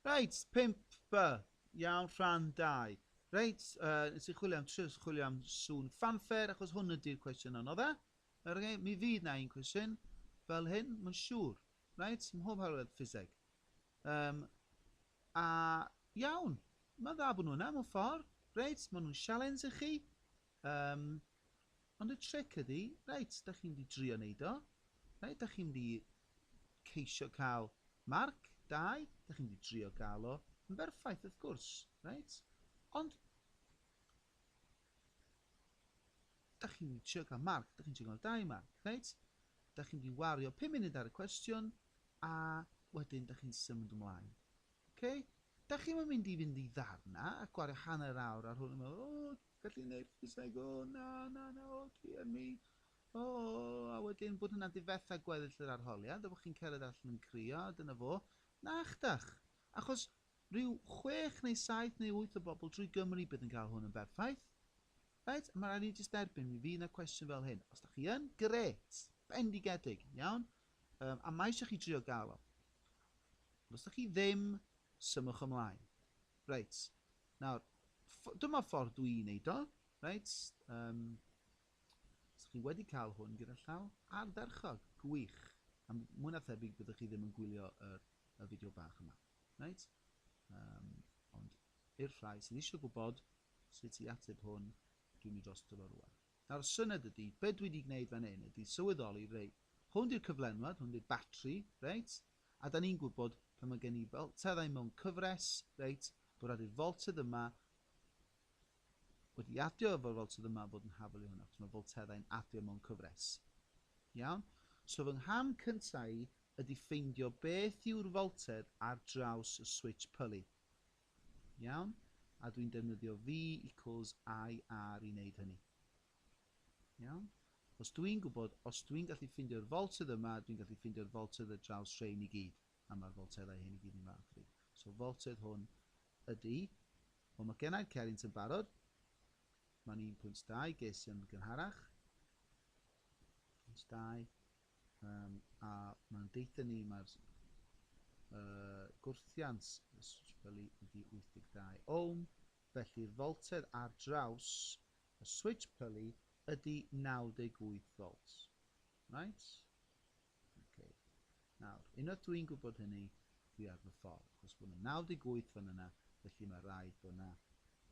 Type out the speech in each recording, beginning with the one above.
Reit, pump B. Iawn, rhan dau. Reit, uh, nes i chwilio am trio chwilio am sŵn fanfair, achos hwn ydy'r cwestiwn anodd e. Okay, mi fydd na un cwestiwn fel hyn, mae'n siŵr. Reit, mhob hawledd ffiseg. Um, a iawn, mae'n dda bod nhw yna, mae'n ffordd. Reit, maen nhw'n sialens i chi. Um, Ond y tric ydi, reit, dach chi'n mynd i drio neud o, reit, dach chi'n mynd i ceisio cael marc, dau, dach chi'n mynd i drio gael o yn berffaith, wrth gwrs, reit, ond dach chi'n mynd i trio cael marc, dach chi'n trio cael dau marc, reit, dach chi'n mynd i wario 5 munud ar y cwestiwn, a wedyn dach chi'n symud ymlaen. Okay? Dach chi'n mynd i fynd i ddarna a gwario hanner awr ar hwn yn meddwl, o, Felly neb yn dweud o na, na, na, o dear me, o, a wedyn bod hynna'n difetha gweddill yr arholiad a bod chi'n cerdded allan yn crio a dyna fo. Nachdach! Achos rhyw chwech neu saith neu wyth o bobl drwy Gymru bydd yn cael hwn yn berffaith. Reit? Mae rhaid ni jyst derbyn mi fydd yna cwestiwn fel hyn. Os da chi yn, grêt! Bendigedig, iawn? Um, a mae eisiau chi drio gael o. Ond os da chi ddim, symwch ymlaen. Reit. Nawr, ff- dyma ffordd dw i'n neud o, reit, yym, os chi wedi cael hwn gyda llaw, ardderchog, gwych, a m- mwy na thebyg byddwch chi ddim yn gwylio yr, y fideo bach yma, reit? Um, ond i'r rhai sydd eisiau gwybod sut i ateb hwn, dwi'n mynd dros dyfo rwan. Nawr, syned ydy, be dwi wedi gwneud fan hyn ydy sylweddoli, rei, hwn di'r cyflenwad, hwn di'r batri, reit? a 'dan ni'n gwybod pan mae gen i folteddau mewn cyfres, reit, bod rhaid i'r foltedd yma wedi adio efo'r foltedd yma fod yn hafal i hwnna, achos mae folteddau'n adio mewn cyfres. Iawn? So fy ngham cyntaf i ydy ffeindio beth yw'r foltedd ar draws y switch pulley. Iawn? A dwi'n defnyddio V equals IR i wneud hynny. Iawn? Os dw i'n gwybod, os dw i'n gallu ffeindio'r foltedd yma, dwi'n gallu ffeindio'r foltedd ar draws rhein i gyd, a mae'r folteddau hyn i gyd yn fa'ch chi. So foltedd hwn ydy, wel mae gennau'r cerrynt yn barod, mae'n 1.2, ges yn gynharach, 1.2, um, a mae'n deitha ni mae'r uh, gwrthiant ysbrydoli ydy 82 ohm, felly'r foltedd ar draws Y switch pyli ydy 98 volts. Reit? Ok. Nawr, unwaith dw i'n gwybod hynny, dwi ar fy ffordd, achos bod yna 98 fan yna, felly mae rhaid bod yna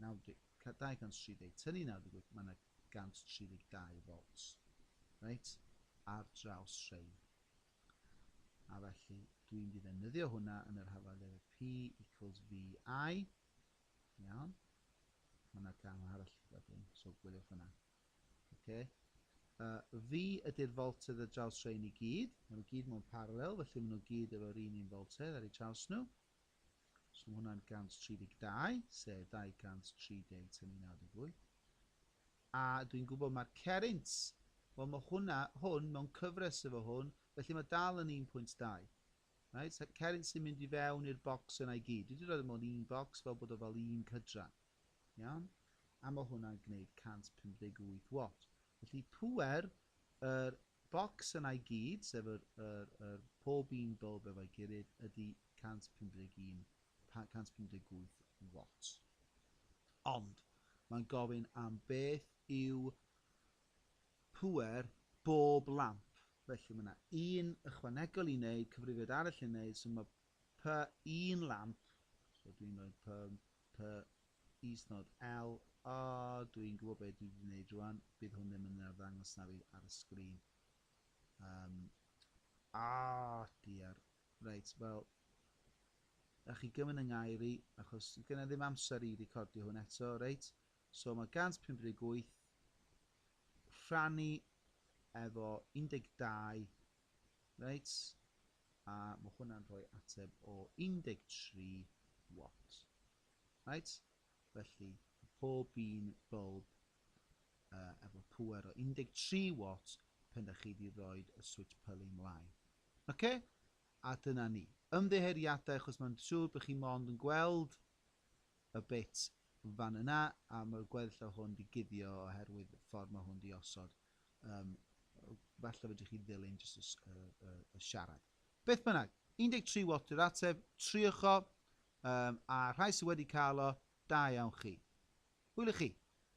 230 tynnu 98, mae yna 132 volts. Reit? Ar draws rhein. A felly, dwi'n mynd i ddefnyddio hwnna yn yr hafaliad y P equals VI, Iawn? Mae yna gamau arall gyda fi, so gwyliwch hwnna. Oce. Uh, fi ydy'r foltedd y draws rhain i gyd. Mae nhw gyd mewn parallel, felly maen nhw gyd efo'r un un foltedd ar ei traws nhw. So mae hwnna'n 132, sef 230 tynnu 98. A dwi'n gwybod mae'r cerint, wel mae hwnna, hwn mewn cyfres efo hwn, felly mae dal yn 1.2. Reit, ceryn sy'n mynd i fewn i'r bocs yna i gyd. Dwi wedi rhoi mewn un bocs fel bod o fel un cydran. Iawn? A mae hwnna'n gwneud 158 watt. Felly pŵer yr bocs yna i gyd, sef yr, yr, yr pob un bulb efo'i gilydd, ydy 151, 158 watt. Ond mae'n gofyn am beth yw pŵer bob lamp, felly mae yna un ychwanegol i wneud, cyfrifiad arall i wneud, so mae py un lamp, so dwi'n rhoi py, py isnod L, a dwi'n gwybod beth dwi wedi gwneud rwan, bydd hwn ddim yn arddangos na fi ar y sgrin. Um, a, diar. Reit, wel, a chi gymryd yng ngair i, achos gyda ddim amser i recordio hwn eto, reit? So mae 158 rhannu efo 12, reit, a mae hwnna'n rhoi ateb o 13 watt. Reit, felly pob un bulb uh, efo pwer o 13 watt pen da chi wedi rhoi y switch pylu mlaen. Oce? Okay? A dyna ni. Ymddeheuriadau achos mae'n siŵr bod chi mond yn gweld y bit fan yna a ma'r gweddill o hwn di guddio oherwydd y ffordd ma hwn di osod um, falle fedrwch chi ddilyn jyst y, y, y, y siarad beth bynnag 13 watt yw'r ateb triwch o um, a rhai sydd wedi cael o da iawn chi hwyl i chi